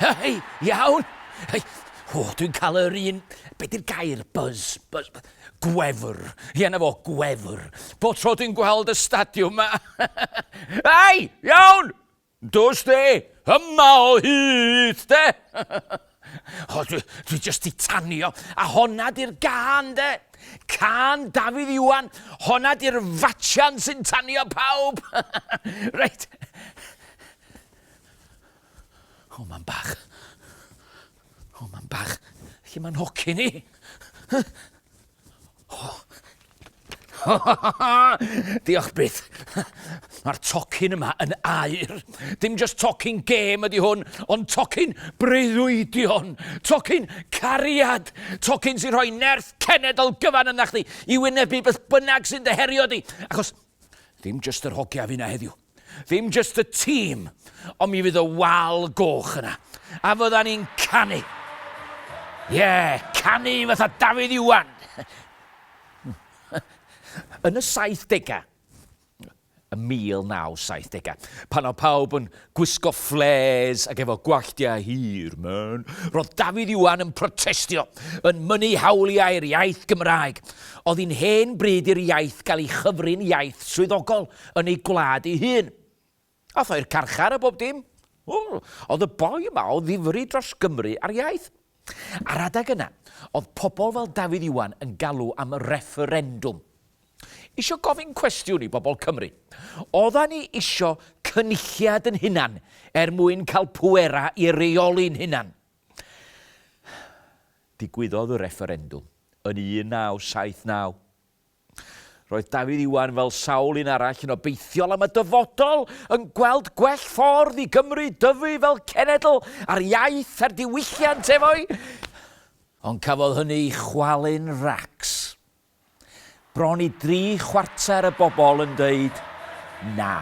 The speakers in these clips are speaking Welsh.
Hei, iawn! Hei, o, dwi'n cael yr un... Be di'r gair? Buzz. Buzz. Gwefr. Ie, na fo, gwefr. Bo tro dwi'n gweld y stadiwm ma. Hei, iawn! Dos de! Yma o hyd de! O, dwi, dwi just di tanio. A honna di'r gan de. Can Dafydd Iwan. Honna di'r fatsian sy'n tanio pawb. reit. O, mae'n bach. O, mae'n bach. Lle mae'n hoci ni? Diolch byth. Mae'r tocyn yma yn air. Dim just tocyn gêm ydy hwn, ond tocyn breuddwydion, tocyn cariad, tocyn sy'n rhoi nerth cenedl gyfan yna chdi i wynebu beth bynnag sy'n dyherio di. Achos dim just yr hogia fi na heddiw. Ddim jyst y tîm, ond mi fydd y wal goch yna. A fydda ni'n canu. Ie, yeah, canu fatha Dafydd Iwan. Yn y 70au, y 1970au, pan o pawb yn gwisgo fflês ac efo gwalltiau hir, man, roedd Dafydd Iwan yn protestio, yn mynnu hawliau'r iaith Gymraeg. Oedd hi'n hen bryd i'r iaith gael ei chyfrin iaith swyddogol. yn ei gwlad ei hun. Ath o i'r carchar a bob dim. Oedd y boi yma o ddifri dros Gymru a'r iaith. Ar adeg yna, oedd pobl fel Dafydd Iwan yn galw am refferendwm. Isio gofyn cwestiwn i bobl Cymru. Oedda ni isio cynulliad yn hunan er mwyn cael pwera i reoli'n hunan. Digwyddodd y refferendwm yn 1979. Roedd Dafydd Iwan, fel sawl un arall, yn obeithiol am y dyfodol, yn gweld gwell ffordd i Gymru dyfu fel cenedl ar iaith a'r diwylliant efo'i Ond cafodd hynny ei chwalu'n racs. Bron i dri chwarter y bobl yn dweud na.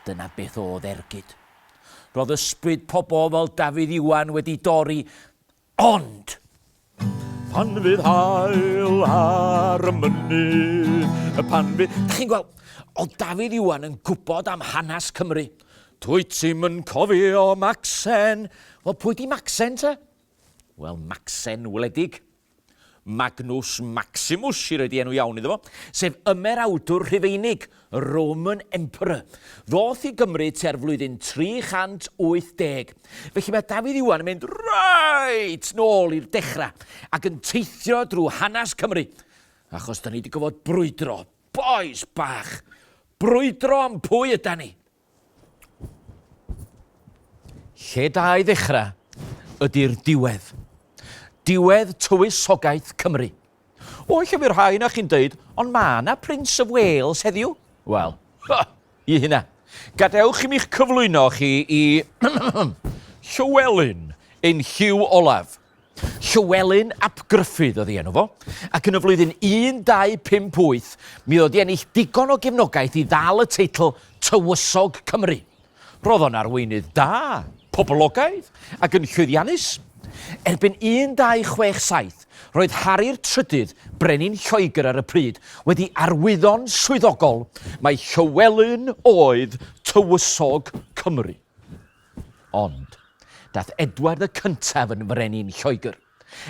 Dyna beth oedd ergyd. Roedd ysbryd pobl fel Dafydd Iwan wedi dorri Ond! Pan fydd hael ar y mynydd, y pan fydd... Da chi'n gweld, o Dafydd Iwan yn gwybod am hanes Cymru. Dwy ti'm yn cofio Maxen. Wel, pwy di Maxen te? Wel, Maxen wledig. Magnus Maximus, i roi di enw iawn iddo fo, sef ymerawdwr Rhufeinig, y Roman Emperor, ddoth i Gymru tua'r flwyddyn 380. Felly mae Dafydd Iwan yn mynd reit nôl i'r dechrau ac yn teithio drwy hanes Cymru, achos da ni wedi gofod brwydro, bois bach, brwydro am pwy yda ni. Lle da i ddechrau ydy'r diwedd. Diwedd tywysogaeth Cymru. O, lle fyr rhai na chi'n dweud, ond ma na Prince of Wales heddiw. Wel, ha, i hynna. Gadewch i mi'ch cyflwyno chi i Llywelyn ein Hugh Olaf. Llywelyn ap Gruffudd oedd ei enw fo, ac yn y flwyddyn 1258 mi oedd o 'di ennill digon o gefnogaeth i ddal y teitl Tywysog Cymru. Roedd o'n arweinydd da, poblogaidd ac yn llwyddiannus. Erbyn 1267, roedd Hari'r Trydydd, brenin Lloegr ar y pryd, wedi arwyddo'n swyddogol mai Llywelyn oedd Tywysog Cymru. Ond, daeth Edward y Cyntaf yn frenin Lloegr,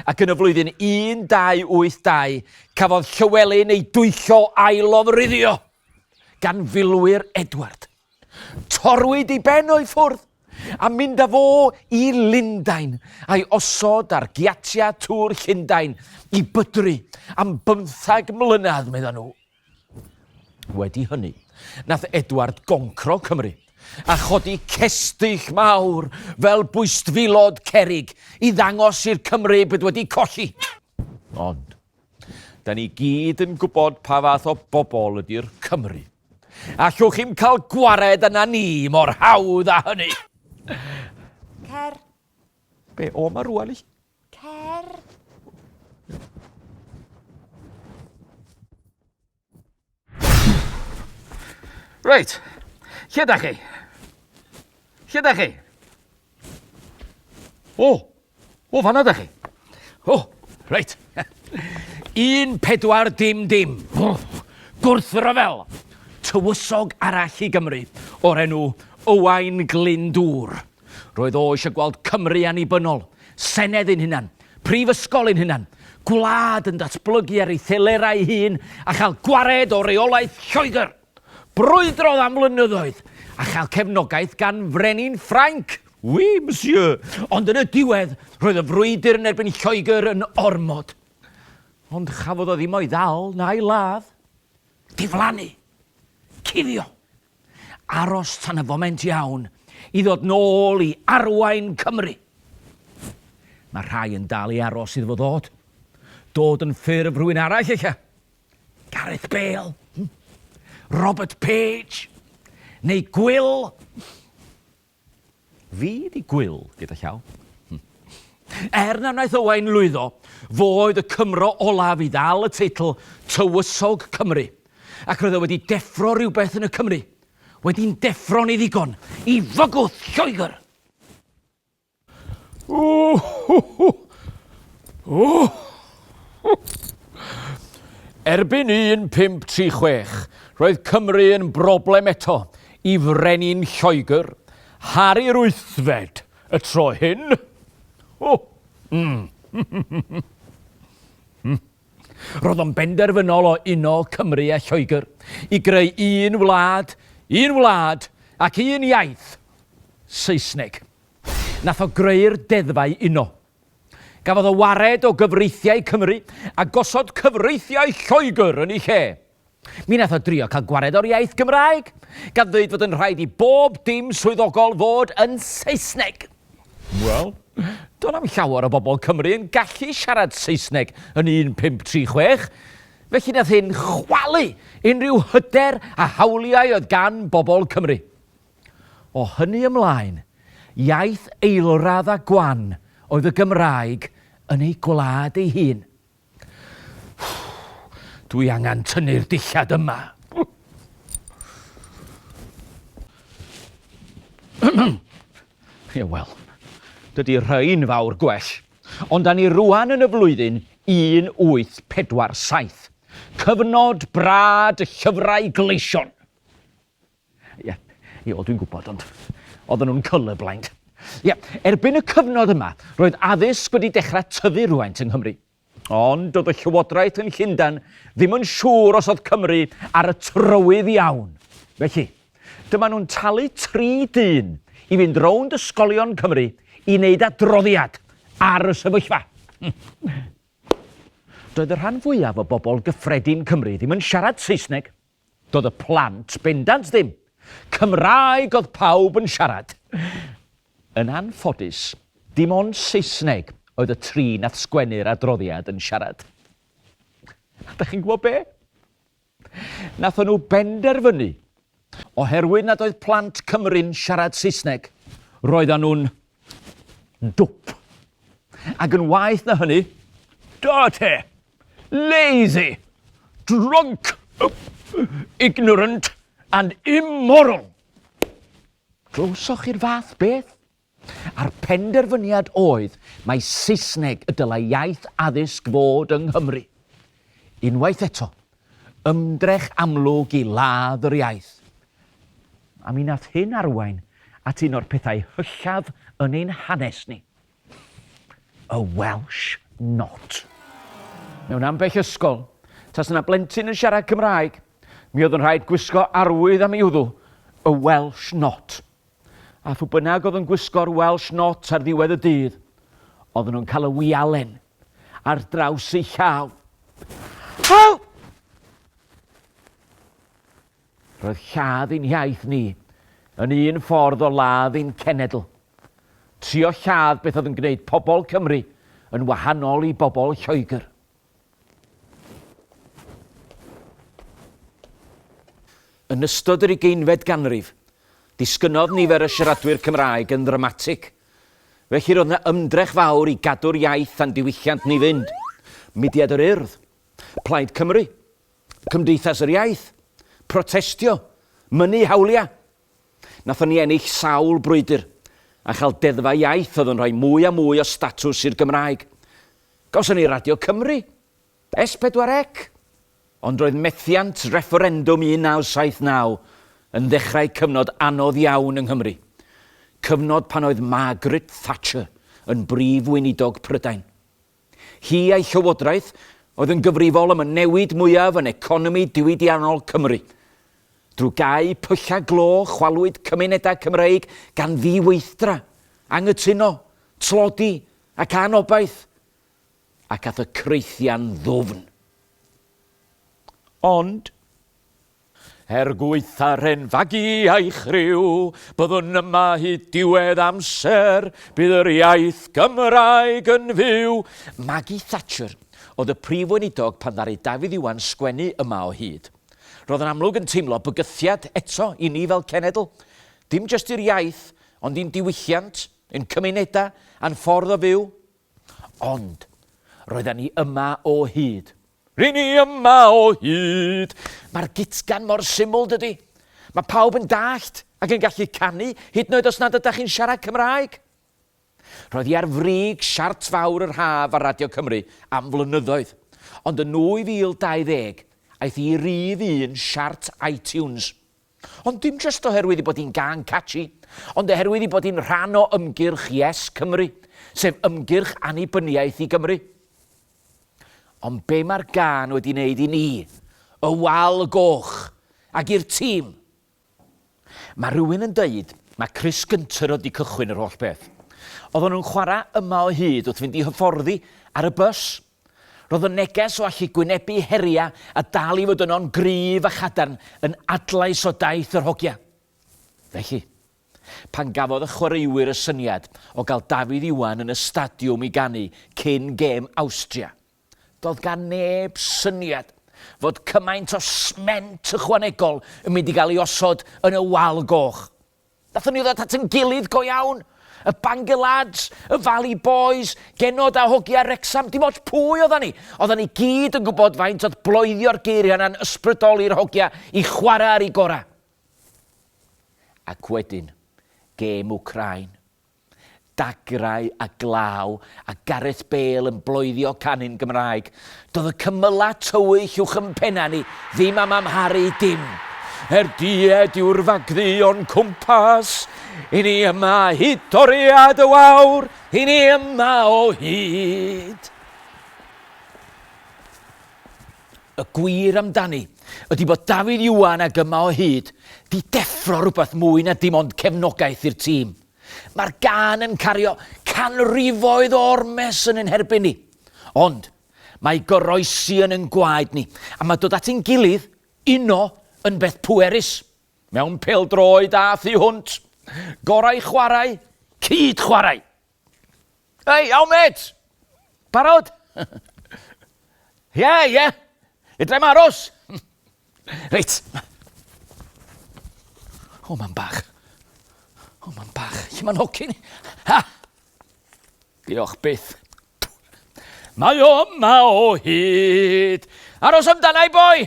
ac yn y flwyddyn 1282 cafodd Llywelyn ei dwyllo a'i lofruddio gan filwyr Edward. Torwyd ei ben o'i ffwrdd, a mynd â fo i Lundain, a'i osod ar giatiau tŵr Llundain i bydru am bymthag mlynedd, meddai nhw. Wedi hynny, nath Edward goncro Cymru a chodi cestyll mawr fel bwystfilod cerig i ddangos i'r Cymry bod wedi colli. Ond, da ni gyd yn gwybod pa fath o bobl ydy'r Cymry. Allwch chi'm cael gwared yna ni mor hawdd â hynny. Cer. Be, o ma rwan i? Cer! Reit, lle da chi? Lle da chi? O, o fanna da chi. O, reit. Un pedwar dim dim. O, gwrthryfel. Tywysog arall i Gymru o'r enw Owain Glyndŵr. Roedd o eisiau gweld Cymru annibynnol, senedd ein hunan, prifysgol ein hunan, gwlad yn datblygu ar ei thelerau ei hun a chael gwared o reolaeth Lloegr. Brwydrodd am flynyddoedd a chael cefnogaeth gan frenin Ffrainc. Oui, monsieur. Ond yn y diwedd, roedd y frwydr yn erbyn Lloegr yn ormod. Ond chafodd o ddim o'i ddal na'i ladd. Diflannu. Cuddio. Aros tan y foment iawn i ddod nôl i arwain Cymru. Mae rhai yn dal i aros iddo fo ddod. Dod yn ffurf rhywun arall ella. Gareth Bale, hmm? Robert Page, neu Gwyl. Fi 'di gwyl gyda llaw. Er na wnaeth Owain lwyddo, fo oedd y Cymro olaf i ddal y teitl Tywysog Cymru, ac roedd e wedi deffro rhywbeth yn y Cymry, wedi'n deffro'n ei ddigon i fygwth Lloegr! Erbyn 1536, roedd Cymru yn broblem eto, Y Frenin Lloegr, Harri yr Wythfed, y tro hyn. O! Mm. Roedd o'n benderfynol o uno Cymru a Lloegr i greu un wlad, un wlad ac un iaith, Saesneg. Nath o greu'r deddfau uno. Gafodd o wared o gyfreithiau Cymru a gosod cyfreithiau Lloegr yn ei lle. Mi wnaeth o drio cael gwared o'r iaith Gymraeg, gan ddweud fod yn rhaid i bob dim swyddogol fod yn Saesneg. Wel, do'n na'm llawer o bobl Cymru yn gallu siarad Saesneg yn 1536, felly nath hyn chwalu unrhyw hyder a hawliau oedd gan bobl Cymru. O hynny ymlaen, iaith eilradd a gwan oedd y Gymraeg yn ei gwlad ei hun. Dwi angen tynnu'r dillad yma. Ie, wel, dydy rhain fawr gwell. Ond da ni rwan yn y flwyddyn 1847. Cyfnod brad y llyfrau gleision. Ie, ie, wel dwi'n gwybod, ond oedden nhw'n colourblind. Ie, erbyn y cyfnod yma, roedd addysg wedi dechrau tyfu rhywfaint yng Nghymru. Ond doedd y llywodraeth yn Llundain ddim yn siŵr os oedd Cymru ar y trywydd iawn. Felly, dyma nhw'n talu tri dyn i fynd rownd ysgolion Cymru i wneud adroddiad ar y sefyllfa. Doedd y rhan fwyaf o bobl gyffredin Cymru ddim yn siarad Saesneg, Doedd y plant bendant ddim. Cymraeg oedd pawb yn siarad. Yn anffodus, dim ond Saesneg oedd y tri nath sgwennu'r adroddiad yn siarad. A dach chi'n gwybod be? Nathon nhw benderfynu, oherwydd nad oedd plant Cymru'n siarad Saesneg, roeddan nhw'n Dwp. Ac yn waeth na hynny, dirty, lazy, drunk, ignorant and immoral. Glywsoch chi'r fath beth? A'r penderfyniad oedd mai Saesneg y dylai iaith addysg fod yng Nghymru. Unwaith eto, Ymdrech amlwg i ladd yr iaith. A mi nath hyn arwain at un o'r pethau hyllaf yn ein hanes ni. Y Welsh Not. Mewn ambell ysgol, tasa 'na blentyn yn siarad Cymraeg, mi oedd yn rhaid gwisgo arwydd am ei wddw, y Welsh Not. A phw bynnag oedd yn gwisgo'r Welsh Not ar ddiwedd y dydd, oedden nhw'n cael y wialen. ar draws ei llaw. Help! Roedd lladd ein hiaith ni yn un ffordd o ladd ein cenedl. Trio lladd beth oedd yn gwneud pobl Cymru yn wahanol i bobl Lloegr. Yn ystod yr ugeinfed ganrif, disgynnodd nifer y siaradwyr Cymraeg yn ddramatig – Felly roedd yna ymdrech fawr i gadw'r iaith a'n diwylliant ni fynd. Mudiad yr Urdd, Plaid Cymru, Cymdeithas yr Iaith, protestio, mynnu hawliau. Nathon ni ennill sawl brwydr a chael deddfau iaith oedd yn rhoi mwy a mwy o statws i'r Gymraeg. Gawson ni Radio Cymru, S4C, ond roedd methiant refferendwm 1979 yn ddechrau cyfnod anodd iawn yng Nghymru, cyfnod pan oedd Margaret Thatcher yn Brif Weinidog Prydain. Hi a'i llywodraeth oedd yn gyfrifol am y newid mwyaf yn economi diwydiannol Cymru. Drwy gau pyllau glo chwalwyd cymunedau Cymreig gan ddiweithdra, anghytuno, tlodi ac anobaith. ac at y creithian ddwfn. Ond, er gwaetha'r hen fagu a'i chriw, byddwn yma hyd diwedd amser, bydd yr iaith Gymraeg yn fyw! Maggie Thatcher oedd y Prif Weinidog pan ddaru Dafydd Iwan sgwennu yma o hyd. Roedd yn amlwg yn teimlo bygythiad eto i ni fel cenedl, dim jyst i'r iaith, ond i'n diwylliant, ein cymunedau, a'n ffordd o fyw. Ond, roedden ni yma o hyd. Ry'n ni yma o hyd! Mae'r gitgan mor syml, dydy? Mae pawb yn dallt ac yn gallu canu, hyd yn oed os nad ydych chi'n siarad Cymraeg. Roedd hi ar frig siart fawr yr haf ar Radio Cymru am flynyddoedd, ond yn 2020 aeth hi i rif un siart iTunes. Ond dim jyst oherwydd ei bod hi'n gân catchy, ond oherwydd ei bod hi'n rhan o ymgyrch Yes Cymru, sef ymgyrch annibyniaeth i Gymru. Ond be mae'r gân wedi wneud i ni, y Wal y Goch, ac i'r tîm? Mae rhywun yn dweud mae Chris Gunter oedd wedi cychwyn yr holl beth. Oedden nhw'n chwarae yma o hyd wrth fynd i hyfforddi ar y bws. Roedd y neges o allu gwynebu heriau a dal i fod yno'n gryf a chadarn yn adlais o daith yr hogia. Felly, pan gafodd y chwaraewyr y syniad o gael Dafydd Iwan yn y stadiwm i ganu cyn gêm Awstria, doedd gan neb syniad fod cymaint o sment ychwanegol yn mynd i gael ei osod yn y wal goch. Nathon ni ddod at yn gilydd go iawn. Y Bangor Lads, y Valley Boys, Genod a Hogia Wrecsam, dim ots pwy oddan ni, oddan ni gyd yn gwybod faint oedd bloedio'r geiriau yna'n ysbrydoli'r hogia i chwarae ar eu gorau. Ac wedyn, gêm Wcráin. Dagrau a glaw a Gareth Bale yn bloeddio canu'n Gymraeg. Doedd y cymylau tywyll uwch yn pennau ni ddim am amharu dim. Er died yw'r fagddu o'n cwmpas, i ni yma hyd toriad y wawr, i ni yma o hyd. Y gwir amdani ydi bod Dafydd Iwan ag Yma o Hyd 'di deffro rhywbeth mwy na dim ond cefnogaeth i'r tîm. Mae'r gân yn cario canrifoedd o ormes yn ein herbyn ni. Ond, mae goroesi yn ein gwaed ni, a mae dod at ein gilydd, uno, yn beth pwerus. Mewn pêl-droed a thu hwnt. Gorau chwarae, cyd-chwarae! Hei, iawn mêt! Barod? Ie, ie. Fedrai'm aros. Reit. O, mam bach. O, mam bach. Lle mae'n hocyn? Ha! Diolch byth. Mae o yma o hyd. Aros amdana i boi!